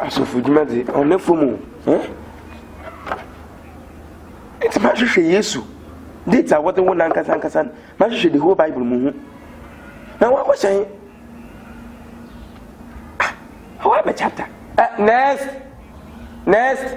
Asɔfodwuma dze, ɔnna famu o, eh? Ntsi mahwehwɛ Yesu, date a wɔdze wo nankasankasa no, mahwehwɛ the whole Bible mu hu. Na wɔakɔhyɛ he? Ah, hɔ abɛ chapter. Uh, next! Next!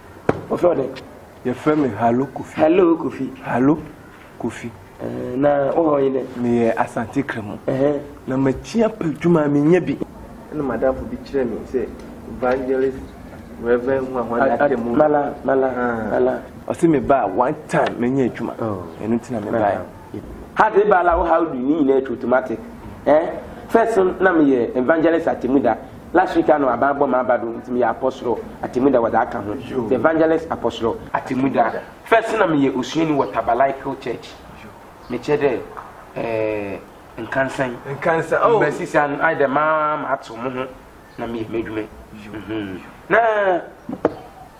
Wɔfrɛ wo dɛn? Yɛfrɛ me Hallo Kofi. Hallo Kofi. Hallo Kofi. Ɛɛ na wo hɔ yi dɛ? Meyɛ Asante Kramu. Ɛhɛn. Na makyi apɛ adwuma a menya bi. Ɛna m'adamfo bi kyerɛɛ me sɛ Evangelist Rev. Huahua Attamu. Mala, Mala, Mala. Ɔse meba a one time menya adwuma. Ɛno nti na mebaeɛ. How did Bala, how do you, ne nyinaa ɛtwa automatic. Ɛɛ first no na meyɛ Evangelist Attamu da. Last week ano aban bɔ maa ba do ntsi meyɛ Apɔsoro Atemmuda wɔdze aka ho, The Evangelist Apɔsoro Atemmuda. First nna meyɛ osuanyi wɔ Taberlicle Church, mekyerɛ dɛ ɛɛ nkansa yi. Nkansa oh. Mbrɛ sisi ano ayɛ dɛ maa matsew moho na meyɛ m'edwuma yi. Nna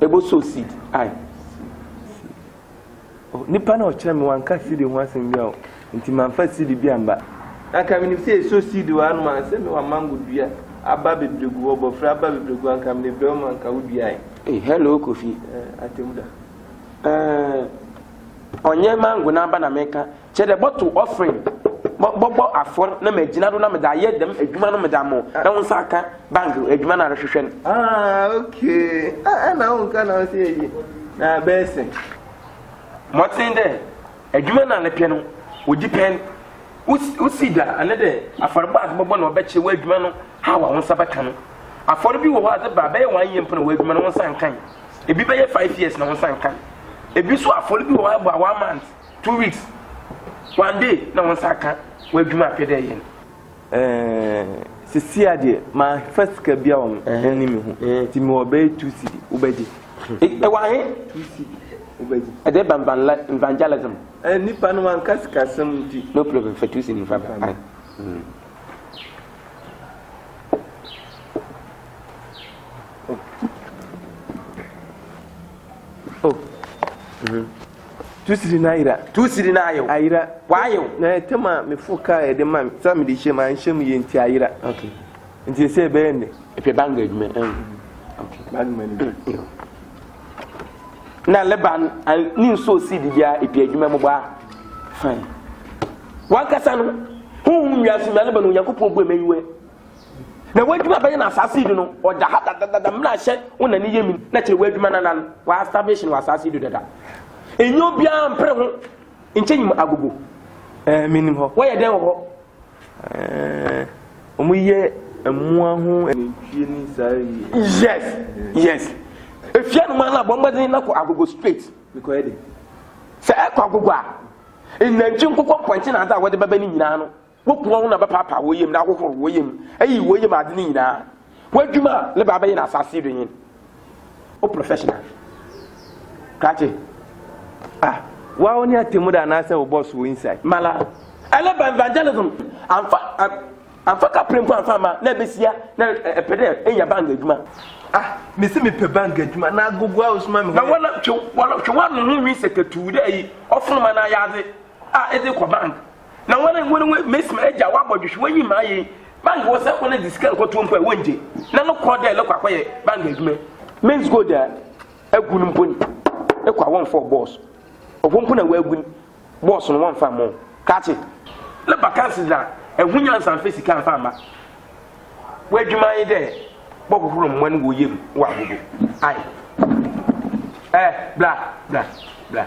Ebo sow seed ai. Oh, nipa na ɔkyerɛ me wanka seed ho asɛm bi a o, nti manfa seed bi amba. Anka menim sɛ yɛso seed wɔ hanom a, sɛ mewɔ mango dua, aba bebree gu hɔ, bɔfrɛ aba bebree gu hɔ, anka mede brɛ wo ma anka woduae. Ei, hello Kofi. Eh, Atemmuda. Eh, ɔnyɛ mango n'aba na meka, Kyerɛ dɛ, bɔtow ɔfrend, bɔbɔ afɔr na megyina do na medze ayɛ dɛm edwuma no medze ama wo, na wo nsa akã bank edwuma no a erohwehwɛ no. Ah, okay. Ah, nna wo nka na ɔsɛ eyi na abɛsen. Mɔtsen dɛ edwuma no a mepɛ no odzi pɛn. Wo seed a ana dɛ afɔrbɔ a edze bɔbɔ na ɔbɛkyerɛ w'edwuma no haw a wo nsa bɛkã no. Afɔr bi wɔ hɔ a edze ba a, bɛyɛ one year mpo na w'edwuma no wo nsa nnkã. Bi bɛyɛ five years na wo nsa nnkã. Bi so afɔr bi wɔ hɔ a ebɔ a one month. Two weeks one day na wɔn nsa aka wɔn adwuma apɛ dɛ ɛyɛ no. Ɛɛɛ sesia deɛ manfa sika bia wɔn ɛni me ho ti me wɔ bɛyɛ two cedi wobɛgye. Ɛwɔ ahe? Two cedi wobɛgye. Ɛdɛ ba evangelism. Ɛɛ nipa no wanka sika sɛm nti. No problem fa two cedi nfa bɛ. Oh. Mm-hmm. Tu siri na ayera. Tu siri na ayew. Ayera. Wayew. Na ɛtam a mefo kaa a ɛde ma me sɛ mede hyɛ mu anhyɛ mu yie nti ayera. Okay. Nti ɛsɛ ɛbɛyɛ nnɛ. Ɛpɛ bank adwuma. Okay. Bank manager. Na Leban ne nsuo si di bia ɛpɛ adwuma mu baa. Fine. Wankasa no honhom wiase na Leban Onyankopɔn bu ɛmɛ yiwɛ. Na w'adwuma bɛyɛ na asaase yi do no, ɔda ha dadadada, mmrahyɛ wo na ne yɛ min, na kyerɛ w'adwuma no anan, wa establish no wɔ asaase yi do dada. Enye obiara mpere ho, nkyɛ nyim agogo. Ɛɛ, eh, menim hɔ. Wɔyɛ dɛn wɔ hɔ? Ɛɛ, eh, wɔn yɛ mmoa ho nantwie ne saa yi. Yes, yes. Efia no man na bɔ mmɔden na kɔ agogo straight. Mekɔyɛ dɛn? Sɛ ɛkɔ agogo a, nnantwi nkokɔ mpɔnkye na adze a wɔde bɛbɛ ne nyinaa no, Woku wɔn na wɔbɛpaapae wɔn yam na ahohoro wɔn yam ayi wɔn yam ade no nyinaa. W'adwuma a ne ba bɛyɛ no asase yi do nye no. Wo professional krakye a. Wa wo ne atemmu da anaasɛ wo boss wɔ inside. Mala. Ɛlɛ ba evangelism amfa amfa kapre mpo amfa amma na ɛbɛsia na ɛpɛ dɛ enya bank adwuma. Ah mese mepɛ bank adwuma na agogo a wosoma me hɔ. Na wɔla twe wɔla twe w'ano ho nwi sɛkɛtuu dɛ ayi ɔfonoma no ayɛ adze a edze kɔ bank Na wɔn a wɔn wɔn mesi ma agya wɔabɔ dwehwe wɔn yi maa yɛn bank wɔ sɛ wɔn de sika nkɔtoɔ mpo a wɔn gye na no kɔ dɛ lɛkɔ akɔyɛ bank adwuma men's gold a agu no mpo ni ɛkɔ a wɔn fɔ bɔs ɔfɔ mpo na wɔagu ni bɔs no wɔn fa mo kate na bakansi na ɛho nyansa nfa sika nfa ma wɔadwuma yi dɛ bɔhohoro mmoa no wɔ yam wɔ ahodo ayi ɛɛ bla bla bla.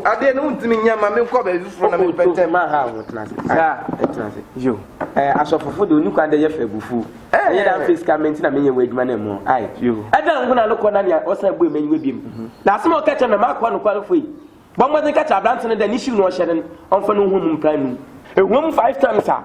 Adeɛ no wontumi nyɛ ma menkɔ baabi foforɔ na mepɛtɛ ma ha ho tena ase saa tena ase yo ɛɛ asɔfofo de oni kwan dɛ yɛfɛ abufuo ɛyɛ dɛ anfɛ sika mɛ nti na menyɛ wɔ adwuma no mu ai ɛdɛ nko na no kɔ na nea ɔsan bue mɛ nyiwa biem na asɛm a ɔka kyerɛ mɛ makoa no kwan fo yi bɔ mmɔden ka kyerɛ aberante no dɛ ne hyiw no ɔhyɛ no ɔmfa no nhu mu mpra num ɛhuam five times a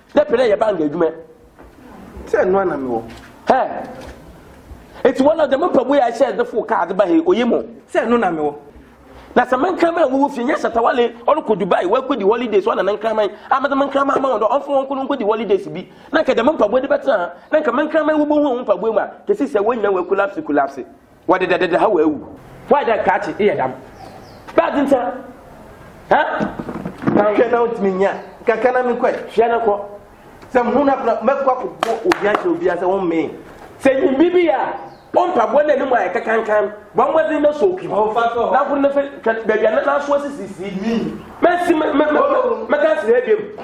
dɛ pɛ dɛ yɛ bank edwuma. Sɛ ɛno ana mewɔ. Hɛ! Eti wɔn a dɛm mpaboa yi a ɛhyɛ ɛde fo kaa de ba he, oye mo. Sɛ ɛno na mewɔ. Na sɛ me nkraman a wɔwɔ fie nyɛ shatawale ɔrekɔ Dubai wɔakɔdi holidays wɔn na ne nkraman a mede me nkraman ama wɔn dɛ ɔmfa wɔn nkono nkɔdi holidays bi na nka dɛm mpaboa de bɛtena ha na nka me nkraman wobɛhu wɔn mpaboa mu a kesi sɛ wɔn nyinaa wɔakolapse kolapse. Wɔde dɛ dɛdɛ ha wɔ awu. Why dɛ krakye eyɛ dam. Bad nsa. Ha. Hwɛ na ntumi nya. Kaka na mi kɔ. Hwɛ na kɔ. Sɛ mu na fana mɛ kɔ akɔ bɔ obi akyɛ obi asɛ wɔn mee. Sɛ nyi bibi ya. Ompa bɔ na nimu ayɛ kakankan. Wɔn bɔ zin na so oki. Na funu na fɛ twɛ bɛbi na na so sisi. Mɛ si mɛ mɛ mɛ mɛ kasi hɛ bi mu.